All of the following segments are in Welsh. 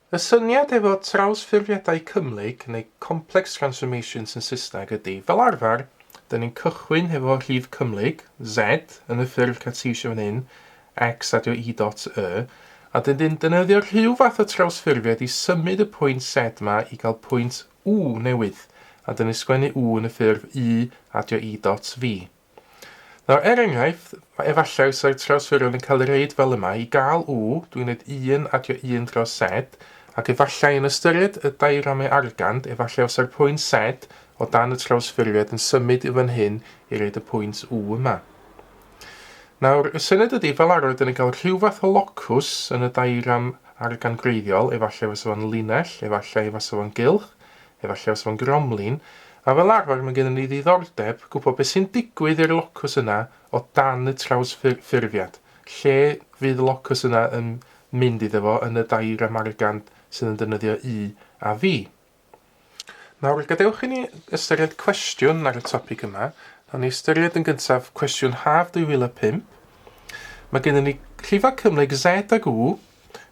Y syniad efo trawsffurfiadau cymhlyg, neu complex transformations yn Saesneg, ydy, fel arfer, dyn ni'n cychwyn hefo rhif cymhlyg, Z, yn y ffurf Cartesian fan hyn, X a dio Y dot Y, a dyn ni'n defnyddio rhyw fath o trawsffurfiad i symud y pwynt Z ma i gael pwynt U newydd, a dyn ni'n sgwennu U yn y ffurf Y a dio Y dot V. Nawr, er enghraifft, efallai fysa'r trawsffurfiad yn cael ei reid fel yma, i gael U, dwi'n gwneud Un a dio Un dros Z, ac efallai yn ystyried y diagrami argand, efallai fysa'r pwynt Z o dan y trawsffurfiad yn symud i fan hyn i reid y pwynt U yma. Nawr, y syniad ydy, fel arfer, dan ni'n cael rhyw fath o locws yn y diagram argan gwreiddiol, efallai fysa fo'n linell, efallai fysa fo'n gylch, efallai fysa fo'n gromlin, a fel arfer mae gennym ni ddiddordeb gwybod beth sy'n digwydd i'r locws yna o dan y trawsffurfiad, lle fydd y locws yna yn mynd iddo fo yn y diagram argan sydd yn defnyddio U a V. Nawr, gadewch i ni ystyried cwestiwn ar y topic yma. Nawn ni ystyried yn gyntaf cwestiwn haf 2005. Mae gennym ni llifau cymhlyg Z ag U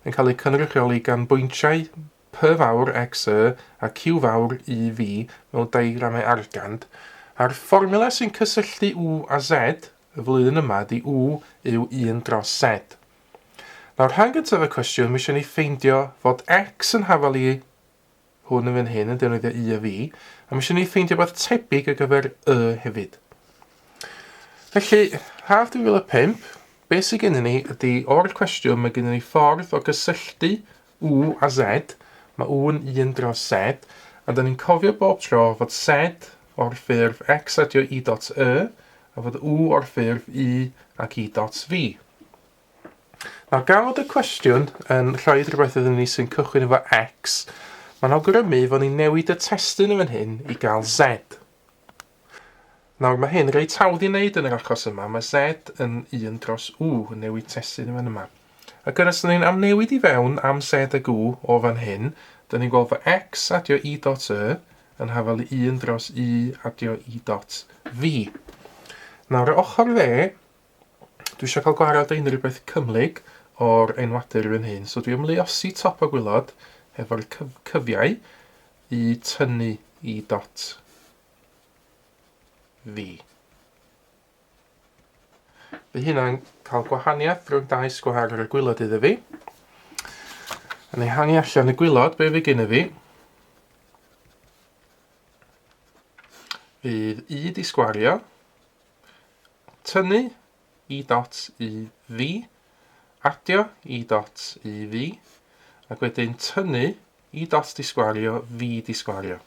yn cael eu cynrychioli gan bwyntiau P fawr x y a Q fawr u v mewn diagramau argand, a'r fformula sy'n cysylltu U a Z y flwyddyn yma ydy U yw 1 dros Z. Nawr, rhan gyntaf y cwestiwn, mae eisiau ni ffeindio fod x yn hafal i Hwn yn fan hyn yn defnyddio y a fi, a mae eisiau ni ffeindio beth tebyg ar gyfer y hefyd. Felly, haf 2005, beth sydd gennym ni ydy o'r cwestiwn mae gennym ni ffordd o gysylltu u a z, mae u'n un dros z, a da ni'n cofio bob tro fod z o'r ffurf x adio i dot y, a fod u o'r ffurf i ac i dot fi. Nawr, gan fod y cwestiwn yn rhoi rhywbeth iddyn ni sy'n cychwyn efo X, mae'n awgrymu fod ni'n newid y testun yn fan hyn i gael Z. Nawr, mae hyn reit hawdd i wneud yn yr achos yma. Mae Z yn 1 dros U yn newid testun yn fan yma. Ac yn ystod ni'n amnewid i fewn am Z ag U o fan hyn, dyn ni'n gweld fod X adio i dot Y yn hafel i 1 dros U adio i dot V. Nawr, y ochr dde, Dwi eisiau cael gwared ar unrhyw beth cymhlyg o'r enwadur fy hun. So dwi am luosi top o gwylod efo'r cyf cyfiau i tynnu i dot fi. Fy hynna'n cael gwahaniaeth rhwng dau sgwar ar y gwylod iddo fi. Yn ei hangi allan y gwylod, be fi gynnu fi? Fydd i di sgwario Tynnu i dots u fi, adio i dots u fi, ac wedyn tynnu i dots disgwario fi disgwario.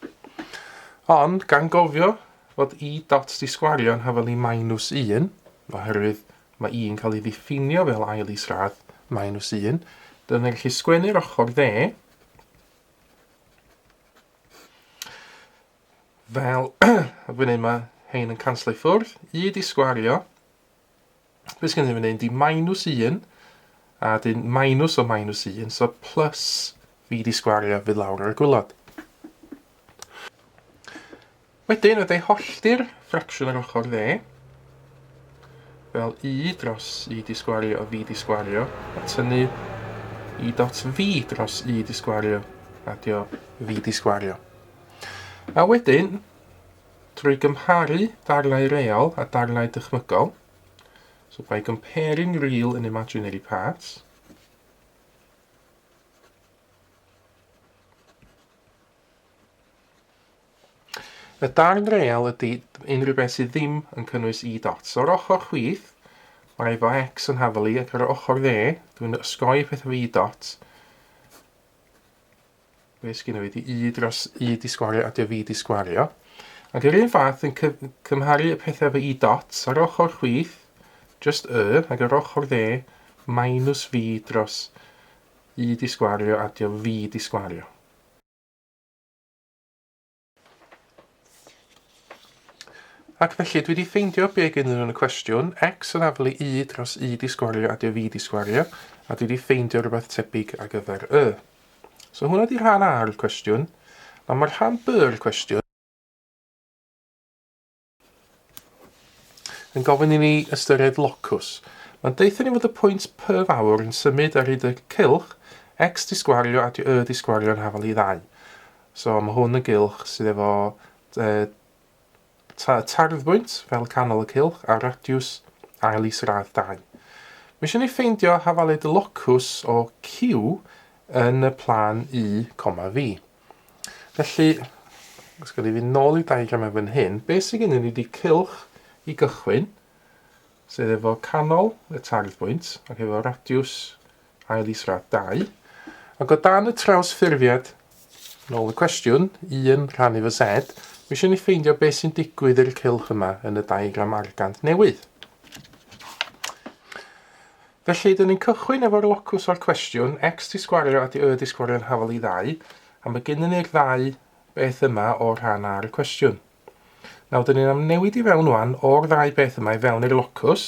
Ond, gan gofio fod i dots disgwario yn hafelu minus 1, oherwydd mae i'n cael ei ddiffinio fel ail isradd minus 1, dyna ni'n gallu sgwennu'r ochr dde, Fel y fi'n neud ma hein yn canslo i ffwrdd. Y di sgwario. Be sgen i fi'n neud? Di minus un. A dyn minus o minus un. So plus fi di sgwario fydd lawr ar y gwylod. Wedyn, fe dau hollti'r ffracsiwn ar ochr dde. Fel i dros i di sgwario a fi di sgwario. A tynnu i dot fi dros i di sgwario. A dio fi di sgwario. A wedyn, trwy gymharu darnau real a darnau dychmygol, so by comparing real and imaginary parts, Y darn real ydy unrhyw beth sydd ddim yn cynnwys e dots. O'r ochr chwith, mae efo x yn hafelu ac ar ochr dde, dwi'n ysgoi peth efo e dots. Be sgynno fi? Di i dros i di sgwario a dy fi di sgwario. Ac yr un fath yn cymharu y pethau efo i dots ar ochr chwith, just y, ac ar ochr dde, minus fi dros i di sgwario a dy fi di sgwario. Ac felly, dwi 'di ffeindio be' gennyn nhw yn y cwestiwn, X yn aflu Y dros Y 'di sgwario a 'di o fi 'di sgwario, a dwi 'di ffeindio rhywbeth tebyg ar gyfer Y. So hwnna 'di rhan A o'r cwestiwn. Nawr mae rhan B o'r cwestiwn. yn gofyn i ni ystyried locws. Mae'n deutha ni fod y pwynt P fawr yn symud ar hyd y cylch, X di sgwario a Y di sgwario yn hafal i ddau. So mae hwn yn gylch sydd efo e, ta, tarddbwynt fel y canol y cylch a radiws ail is radd 2. Mae eisiau ni ffeindio hafaled y locws o Q yn y plan U, V. Felly, os gyda fi nôl i diagramau fan hyn, beth sydd gennym ni wedi cylch i gychwyn, sef efo canol y tardd bwynt ac efo radiws ail israd 2. Ac o dan y traws ffurfiad, nôl y cwestiwn, 1 rhan efo Z, mae eisiau ni ffeindio beth sy'n digwydd i'r cylch yma yn y diagram argant newydd. Felly, dyn ni'n cychwyn efo'r locws o'r cwestiwn, X di sgwario a di Y di sgwario yn hafal i ddau, a mae gennyn ni'r ddau beth yma o'r rhan ar y cwestiwn. Nawr, dyn ni'n amnewid i fewn wan o'r ddau beth yma i fewn i'r locws,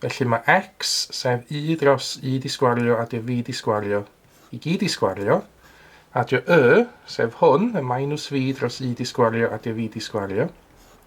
felly mae X, sef Y dros Y di sgwario a dio V di sgwario, i gyd i sgwario, a dio Y, sef hwn, y minus V dros Y di sgwario a dio V di sgwario,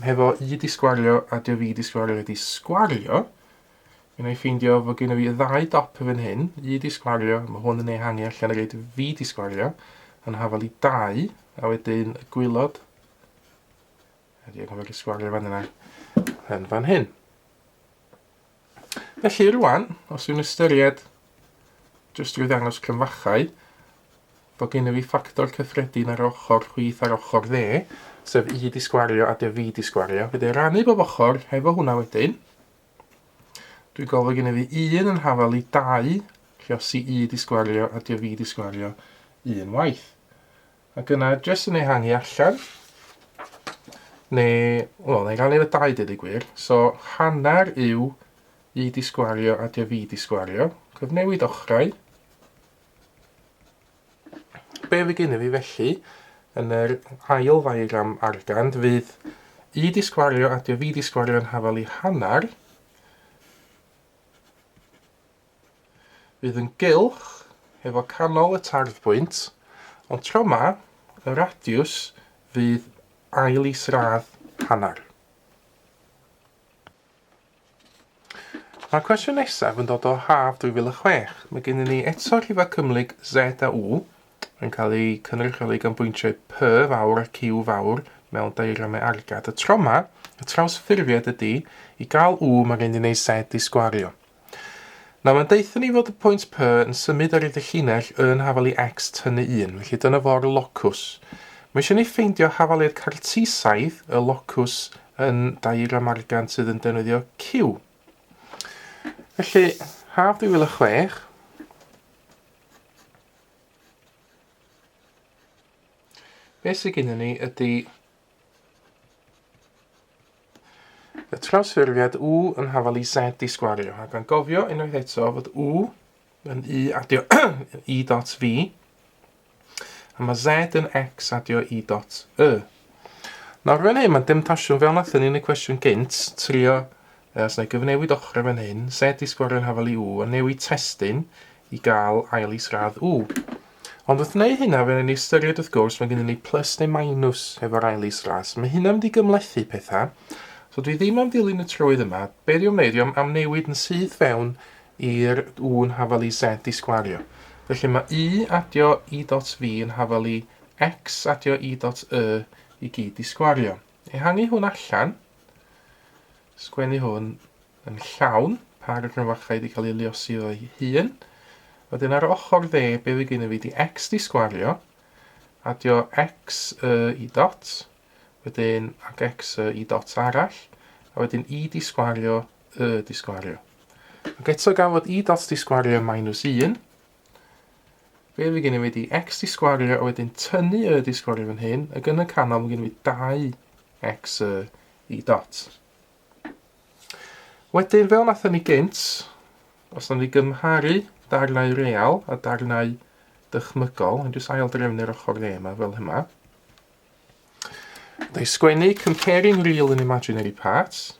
Hefo i 'di sgwario a dio fi 'di sgwario wedi sgwario, mi wna i ffeindio fod gen i fi ddau dop yn fan hyn, i 'di sgwario, mae hwn yn ei hangu allan a roed fi 'di sgwario, yn hafal i dau, a wedyn y gwylod, a dio gofod i sgwario fan yna, yn fan hyn. Felly rwan, os yw'n ystyried, jyst drwy ddangos cryfachau, bod gen i fi ffactor cyffredin ar ochr chwith ar ochr dde, sef i di sgwario a dy fi di sgwario, fe dy rannu bob ochr hefo hwnna wedyn. Dwi'n gofio gen i fi un yn hafal i dau, lle os i i di sgwario a dy fi di sgwario un waith. Ac yna, jyst yn ehangu allan, neu, wel, neu rannu efo dau dweud y gwir, so hanner yw i di sgwario a dio fi di sgwario, cyfnewid ochrau, be fi gen i fi felly, yn yr ail ddiagram argand fydd i di sgwario a dio fi di sgwario yn hafal i hanner, Fydd yn gylch efo canol y tarddbwynt, ond tro ma, y radiws fydd ail isradd hanner. Mae'r cwestiwn nesaf yn dod o haf 2006. Mae gennym ni eto rhifa cymhlyg Z a U yn cael eu cynrychioli gan bwyntiau P fawr a Q fawr mewn diagramau argad. Y troma, y trawsffurfiad ydy, i gael U mae gen i wneud Z i sgwario. Nawr, mae'n deutha ni fod y pwynt P yn symud ar ei ddichinell yn hafal i X tynnu 1, felly dyna fo'r locws. Mae eisiau ni ffeindio hafal i'r cartesaidd, y locws yn diagram argan sydd yn defnyddio Q. Felly, haf 2006, beth sydd gennym ni ydy Y trawsffurfiad u yn hafal i z i sgwario, ac angofio unwaith eto fod u yn u adio i dot v, a mae z yn x adio i dot y. Nawr fan hyn, mae'n demtasiwn fel nathon ni yn y cwestiwn gynt, trio Os wna i gyfnewid ochrau fan hyn, set i sgorio'n hafal i U a newid testun i gael ail is-radd U. Ond wrth wneud hynna, fe wnawn ni ystyried wrth gwrs, mae gennym ni plus neu minus efo'r ail is-radd, so mae hynna'n mynd i gymhlethu pethau. So dwi ddim am ddilyn y trywydd yma, be dwi am wneud, dwi am amnewid yn syth fewn i'r U yn hafal i Z i sgwario. Felly mae U adio I dot V yn hafal i X adio I dot Y i gyd i sgwario. Ehangu hwn allan. Sgwennu hwn yn llawn, pa gryfach rhaid i cael ei liosi o'i hun. Wedyn ar ochr dde, be fi gynnu fi di x di sgwario, adio x y i dot, wedyn ac x y i dot arall, a wedyn i di sgwario, y di sgwario. Ac eto gan fod i dot di sgwario yn minus 1, Fe fi gen i wedi x di sgwario a wedyn tynnu y di sgwario fan hyn, ac yn y canol mae gen i 2x y i dot. Wedyn, fel nathon ni gynt, os nawn ni gymharu darnau real a darnau dychmygol, yn jyst ail drefnu'r ochr dde yma fel yma. Da i sgwennu comparing real and imaginary parts.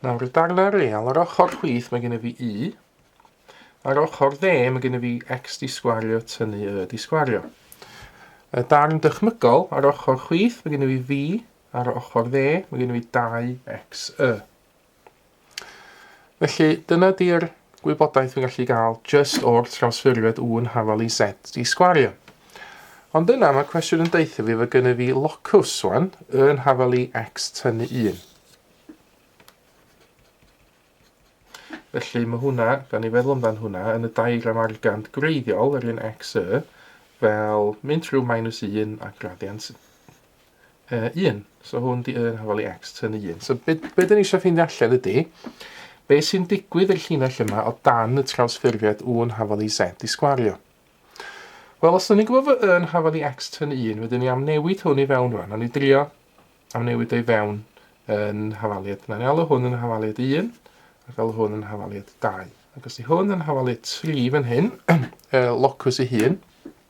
Nawr, y darnau real, ar ochr chwith mae gen i fi u, ar ochr dde mae gen i fi x di sgwario tynnu y di sgwario. Y darn dychmygol, ar ochr chwith mae gen i fi fi, ar ochr dde mae gen i fi 2xy. Felly, dyna di'r gwybodaeth fi'n gallu gael just o'r trawsffurfiad o'n hafal i set i sgwario. Ond yna mae cwestiwn yn deutha fi fod gynnu fi locws wan yn hafal i x tynnu 1. Felly mae hwnna, gan i feddwl amdan hwnna, yn y diagram argant greiddiol yr un x y, fel mynd trwy minus 1 a gradiant uh, 1. So hwn di y yn hafal i x tyn y 1. So be, be dyn ni eisiau ffeindio allan ydy, be sy'n digwydd i'r llinell yma o dan y trawsffurfiad u yn hafal i z i sgwario. Wel, os dyn ni'n gwybod fod y yn hafal i x tyn y 1, wedyn ni am newid hwn i fewn rwan. Ond ni drio am newid ei fewn yn hafaliad. Na ni alw hwn yn hafaliad 1 ac alw hwn yn hafaliad 2. Ac os di hwn yn hafaliad 3 fan hyn, y locws ei hun,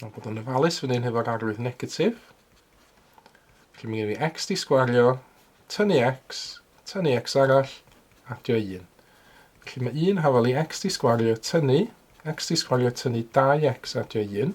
Mae'n bod yn ofalus fan hyn hefo'r arwydd negatif. Felly mae gen i x di sgwario, tynnu x, tynnu x arall, adio 1. Felly mae 1 hafel i x di sgwario, tynnu, x di sgwario, tynnu 2x adio 1.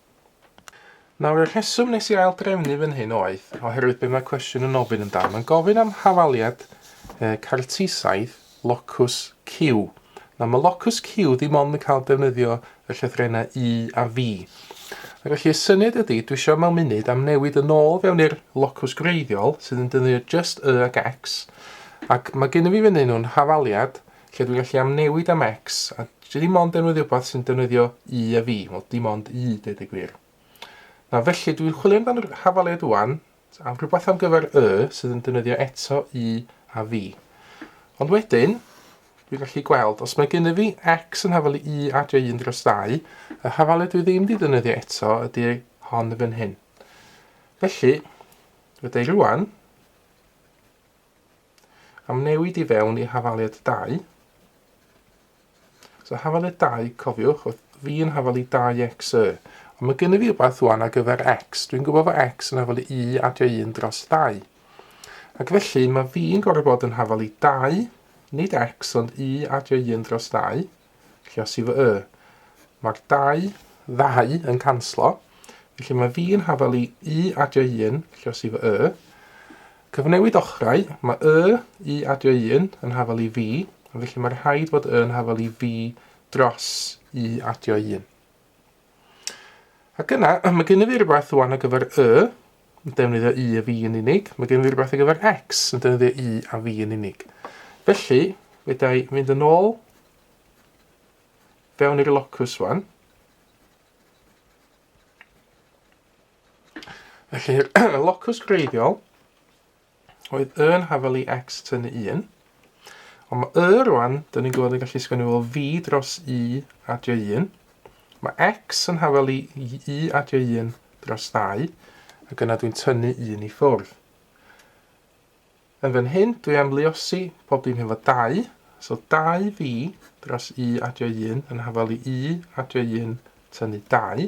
Nawr, y rheswm wnes i ail-drefnu fan hyn oedd oherwydd be mae cwestiwn yn ofyn amdano. Mae'n gofyn am hafaliad e, cartisaidd locws Q. Nawr, mae locws Q ddim ond yn cael defnyddio y llythrennau U a V. Ac felly, y syniad ydy, dwi eisiau mewn munud am newid yn ôl fewn i'r locws gwreiddiol, sydd yn defnyddio just Y ac X, ac mae gen i fi fan hyn nhw'n hafaliad lle dwi'n gallu amnewid am X, a dwi ddim ond defnyddio rhywbeth sy'n defnyddio Y a fi, wel dim ond Y, dweud y gwir. Na felly, dwi'n chwilio amdano'r hafaliad wan, am rhywbeth am gyfer Y sydd yn defnyddio eto Y a fi. Ond wedyn, dwi'n gallu gweld, os mae gen i fi X yn hafalu Y adio 1 dros 2, y hafaliad dwi ddim wedi defnyddio eto ydy hon y fan hyn. Felly, rydw i rwan, Am newid i fewn i hafaliad 2. So hafaliad 2, cofiwch, oedd fi yn hafalu 2x y. Ond mae gen i fi rhywbeth wan ar gyfer x. Dwi'n gwybod fod x yn hafalu i adio 1 dros 2. Ac felly mae fi'n gorfod bod yn hafalu 2, nid x ond i adio 1 dros 2. Felly os i fy y, mae'r dau, ddau, yn canslo. Felly mae fi yn hafel i y adio un, felly os i fy y. Cyfnewid ochrau, mae y, y adio un, yn hafel i fi, felly mae rhaid bod y yn hafel i fi dros y adio un. Ac yna, mae gen i fi rhywbeth rwan ar gyfer y, yn defnyddio i a fi yn unig. Mae gen i fi rhywbeth ar gyfer x, yn defnyddio i a fi yn unig. Felly, fydda i fynd yn ôl fewn i'r locus rwan. Felly, locus greiddiol, oedd y yn hafal i X tynnu un. Ond mae y rwan, dyn ni'n gwybod yn gallu sgwennu fel fi dros u adio un. Mae X yn hafal i u adio un dros ddau, ac yna dwi'n tynnu un i ffwrdd. Yn fan hyn, dwi am luosi pob dim hefo dau, so dau fi dros u adio un yn hafal i u adio un tynnu dau.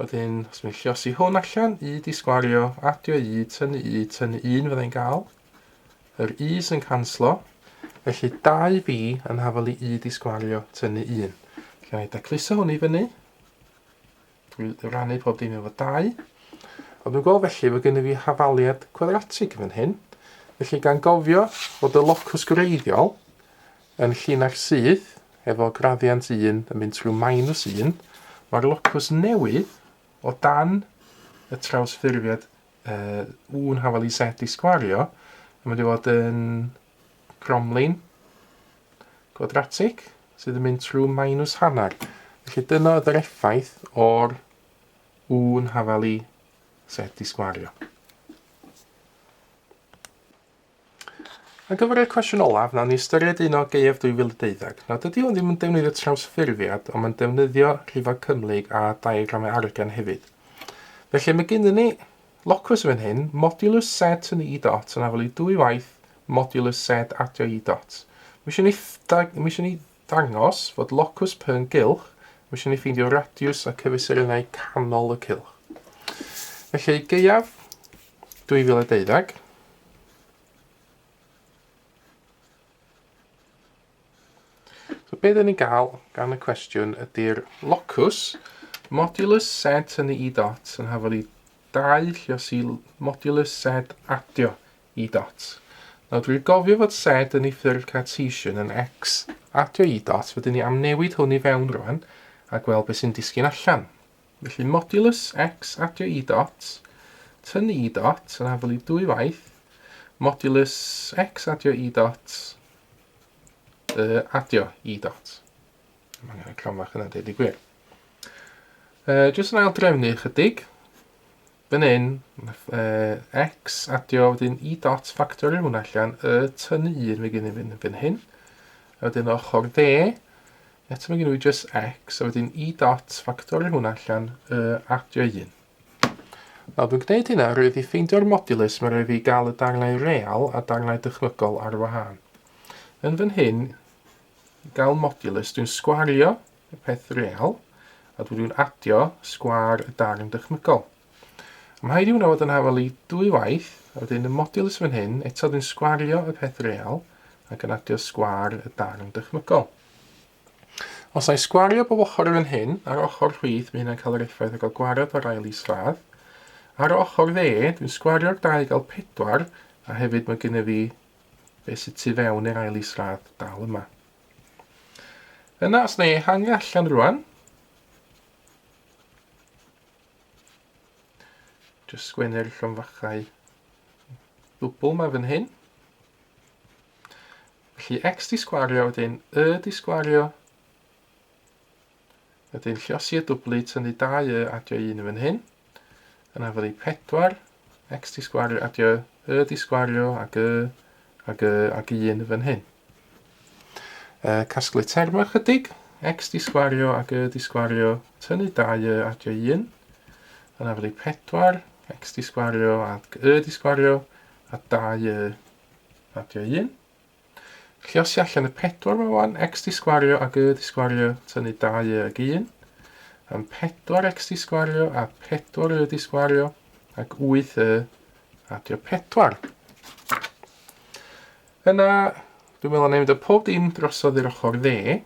Wedyn, os mi'n lliosi hwn allan, i di sgwario, adio i, tynnu i, tynnu un fydda i'n gael. Yr i sy'n canslo. Felly 2b yn hafel i i di sgwario, tynnu un. Felly na i dacluso hwn i fyny. Dwi'n rannu pob dim efo 2. Ond dwi'n gweld felly fod gennym fi hafaliad cwadratig yn fan hyn. Felly gan gofio bod y locws gwreiddiol Yn llinach syth, efo graddiant un yn mynd trwy minus un, mae'r locws newydd o dan y trawsffurfiad uh, 1 hafal i z i sgwario yn mynd i fod yn cromlin gwadratig sydd yn mynd trwy minus hanner. Felly dyna oedd yr effaith o'r 1 hafal i z i sgwario. Ar gyfer y cwestiwn olaf, wnawn ni ystyried un o Gaeaf 2012. Nawr, dydy hwn ddim yn defnyddio trawsffurfiad, ond mae'n defnyddio rhifau cymhlyg a diagramau argain hefyd. Felly, mae gennym ni locus yn fan hyn, modulus z yn i dot yn afelu dwy waith modulus z adio i dot. Mae eisiau ni, mae eisiau ni Dangos fod locws P yn gylch, mae eisiau ni ffeindio radiws a cyfesurynnau canol y cylch. Felly, gaeaf 2012, So be dyn ni'n gael gan y cwestiwn ydy'r locws modulus z yn y i dot yn hafod i 2 lluos i modulus z adio Y dot. Nawr dwi'n gofio fod Z yn ei ffurf Cartesian yn X. Adio Y dot, fydden ni am newid hwn i fewn rwan a gweld beth sy'n disgyn allan. Felly modulus X adio Y dot, tynnu Y dot yn afel i dwy waith, modulus X adio Y dot, y adio Y dot. Mae angen y cramfach yna, dweud y gwir. Uh, jyst yn ail drefnu ychydig. Fan hyn, nath uh, X adio wedyn i dot factorio hwn allan, y tynnu un fe gynnu fan, fan hyn. A wedyn ochr dde, eto mae gen i just X, a wedyn i dot factorio hwn allan, y adio un. Nawr, dwi'n gwneud hynna roedd i ffeindio'r modulus mae roedd i gael y darnau real a darnau dychmygol ar wahân. Yn fan hyn, gael modulus, dwi'n sgwario y peth real, a dwi dwi'n adio sgwâr y darn dychmygol. Mae rhaid i hwnna fod yn hafal i dwy waith, a wedyn y modulus fan hyn, eto dwi'n sgwario y peth real, ac yn adio sgwâr y darn dychmygol. Os na i sgwario bob ochr yn fan hyn, ar ochr rhwydd, mae hynna'n cael yr effaith o gael gwared o'r ail isradd. Ar ochr dde, dwi'n sgwario'r dau gael pedwar, a hefyd mae gennyf fi beth sydd tu fewn i'r ail isradd dal yma. Yna, os na i ehangu allan rwan, jyst sgwennu'r llonfachau ddwbl ma fan hyn. Felly x di sgwario, wedyn y di sgwario, Wedyn lliosi y dwbli, tynnu 2 y adio 1 yn fan hyn. Yna fyddi 4, x di sgwario, adio y di sgwario ag y, ag y, ag 1 yn fan hyn. E, casglu terma chydig, x di sgwario ag y di sgwario, tynnu 2 y adio 1. Yna fyddi 4, x di sgwario ag y di sgwario, a 2 y adio 1. Lluosi allan y pedwar ma wan, x di sgwario ac y di sgwario, tynnu 2 y ag 1, am 4 x di sgwario a 4 y di sgwario, ac 8 y adio 4. Yna, dwi'n meddwl na i mynd o pob dim drosodd i'r ochr dde,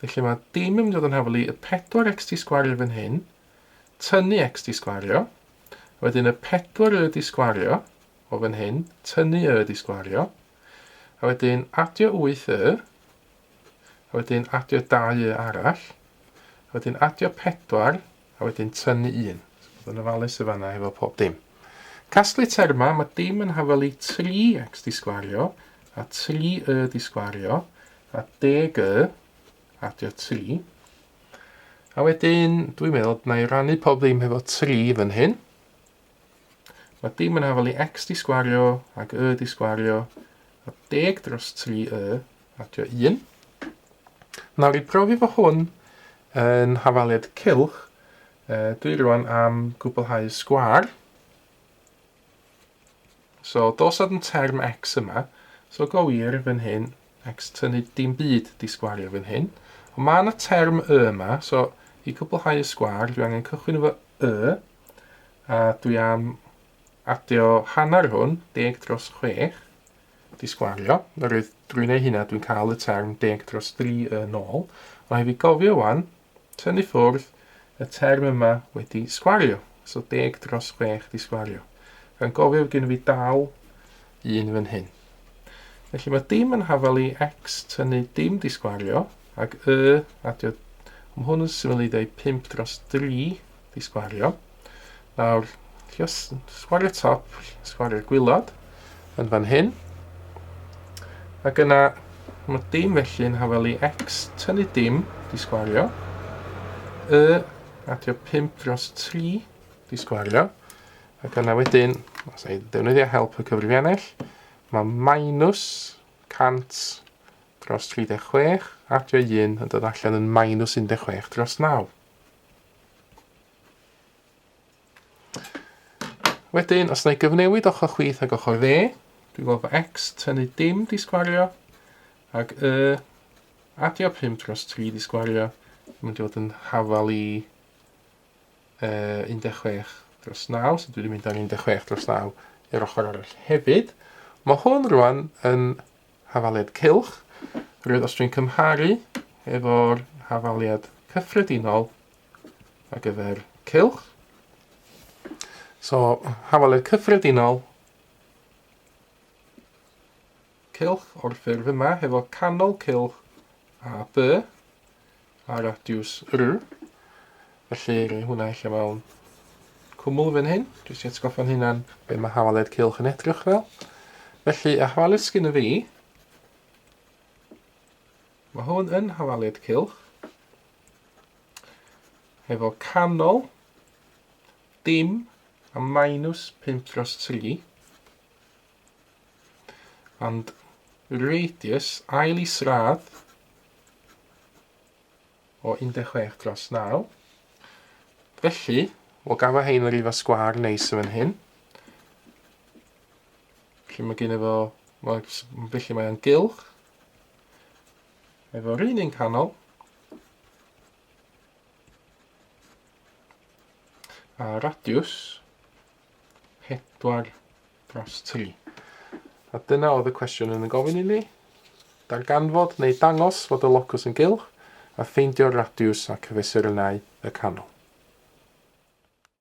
felly mae dim yn mynd yn haflu y 4x di sgwario fan hyn, tynnu x di sgwario, wedyn y 4 y di sgwario o fan hyn, tynnu y di sgwario, A wedyn adio 8 y. A wedyn adio 2 y arall. A wedyn adio 4, a wedyn tynnu 1. So bod yn ofalus y fanna hefo pob dim. Casglu terma, mae dim yn hafel i 3x di sgwario, a 3 y di sgwario, a deg y, adio 3. A wedyn, dwi'n meddwl, na i rannu pob ddim hefo 3 fan hyn. Mae dim yn afael i x di sgwario ac y di sgwario a deg dros 3 y adio 1. Nawr i brofi fo hwn yn hafaliad cylch, dwi rwan am gwblhau sgwar. So dos ad yn term x yma, so go wir fan hyn Next, tynnu dim byd 'di sgwario fan hyn. Ond mae yna term y yma, so i gwblhau y sgwar dwi angen cychwyn efo y, a dwi am adio hanner hwn, deg dros chwech, 'di sgwario. Oherwydd drwy wneud hynna dwi'n cael y term deg dros dri yn ôl. Ond hefyd gofio wan, tynnu ffwrdd y term yma wedi sgwario, so deg dros chwech di sgwario. Rha'n gofio fod gen fi dal un fan hyn. Felly mae dim yn hafal i x tynnu dim di sgwario, ac y adio, mae hwn yn syml i ddweud 5 dros 3, Di sgwario. Nawr, ti os sgwario top, sgwario gwylod yn fan hyn. Ac yna, mae dim felly yn hafel i x tynnu dim, di sgwario. Y, adio 5 dros 3, di sgwario. Ac yna wedyn, os ei defnyddio help y cyfrifiannell, mae minus 100 dros 36, adio 1 yn dod allan yn minus 16 dros 9. Wedyn, os na i gyfnewid ochr chwith ag ochr dde, dwi'n gweld bod x tynnu dim di sgwario, ac y adio 5 dros 3 di sgwario, yn mynd i fod yn hafal i uh, 16 dros 9, so dwi wedi mynd ar 16 dros 9 i'r ochr arall hefyd. Mae hwn rwan yn hafaliad cylch, rwy'r os dwi'n cymharu efo'r hafaliad cyffredinol ar gyfer cylch. So, hafaliad cyffredinol cylch o'r ffurf yma, hefo canol cylch a by, a radiws R. Felly rhoi hwnna allan mewn cwmwl fan hyn, jyst i atgoffa'n hunan be mae hawaled cylch yn edrych fel. Felly y hawaled sgyn y fi, mae hwn yn hawaled cylch, efo canol, dim a minus 5 dros 3. And radius ail isradd o 16 dros 9. Felly, we'll gafo hein yr ifa sgwar neis yn hyn. Felly mae gen i fo, felly mae'n gylch. Efo'r un un canol, a radiws pedwar dros tri. A dyna oedd y cwestiwn yn y gofyn i ni. Darganfod neu dangos fod y locws yn gylch a ffeindio'r radiws a cyfesurynnau y canol.